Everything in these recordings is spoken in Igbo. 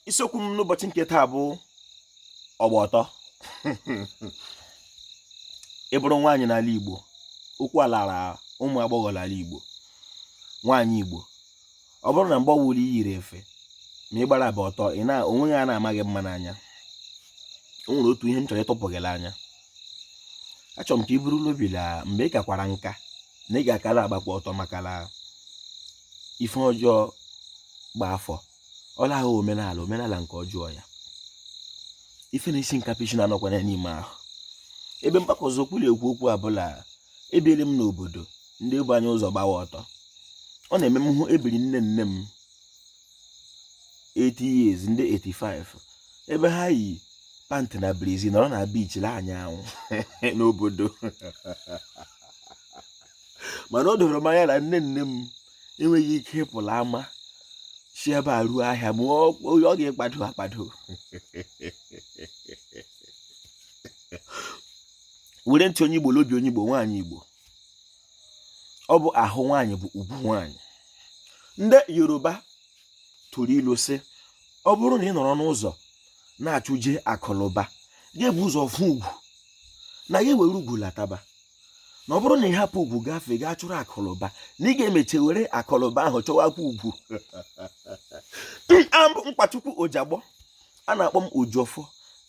isiokwu m n'ụbọchị nke taa bụ ọgba ọtọ ị bụrụ nwaanyị n'ala Igbo okwu a lara ụmụ agbọghọ n'ala Igbo nwaanyị Igbo ọ bụrụ na mgbe ọwụla i yiri efe ma ị gbara bụ ọtọ ị na onweghị a na-amaghị mma n'anya o nwere otu ihe m chọrọ ịtụpụ gị n'anya achọrọ m ka i buru n'obi la mgbe ị kakwara nka na ị ga-akara agbakwa ọtọ maka na ife ọjọọ gba afọ ọ laa omenala omenala nke ọjọọ ya ife na-esi nkapị isi na-anọkwana n'ime ahụ ebe m gbakwasị ụkwụ na-ekwu okwu a bụ la ebiele m n'obodo ndị bu anyị ụzọ gbawa ọtọ ọ na-eme m hụ ebiri nne nne m 80 years ndị 85 ebe ha yi pantị na brazi nọrọ na biichi la-anya anwụ n'obodo mana o doro m anya na nne nne m enweghị ike ịpụ la ama si ebe a ruo ahịa ma onye ọ ga-ekpado akpado were ntị onye igbo lobi onye igbo nwaanyị igbo ọ bụ ahụ nwaanyị bụ ugwu nwaanyị ndị yoruba tụrụ ilu sị ọ bụrụ na ị nọrọ n'ụzọ na-achụje akụlụba gị ebu ụzọ fụ ugwu na ya were ugwu lataba na ọ bụrụ na ị hapụ ugwu gafee gaa chụrụ akụlụba na ị ga-emeche were akụlụba ahụ chọwakwa ugwu abụ m nkwachukwu ojagbọ a na-akpọ m ojofọ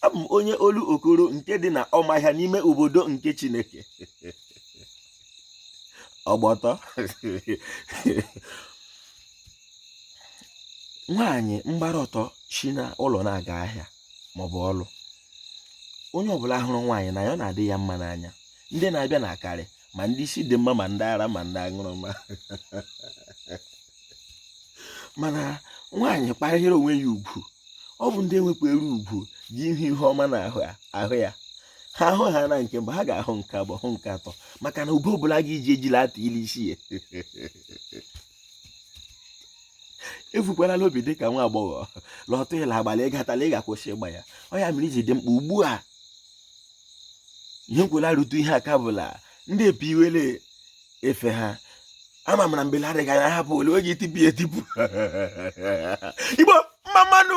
abụ m onye olokoro nke dị na ọmahịa n'ime obodo nke chineke ọgba ọtọ nwaanyị gbara ọtọ si na ụlọ na-aga ahịa maọbụ ọlụ onye ọbụla hụrụ nwaanyị n'anya ọ na-adị ya mma n'anya ndị na-abịa na akarị ma ndị isi dị mma ma ndị ara ma ndị aṅụrụma mana nwaanyị kwanyere onwe ya ugwu ọ bụ ndị nwekwara ugwu ji ihu ihe ọma na-ahụ ya ha hụ ha na nke mbụ ha ga-ahụ nke abụọ hụ nke atọ maka na ube ọbụla ga-eji eji la-ata ili isi ya vukwala n'obi dị ka nwa agbọghọ la ọtọ ị la-agba la ị katala ị ga-akwụsị ịgba ya ọ ya mere o ji dị mkpa ugbu a ihe nkwela rute ihe aka bụla ndị epi iwele efe ha ama m la mgbe la-adịghị anya hapụ ole oge itipu etipu igbo mma mma nụ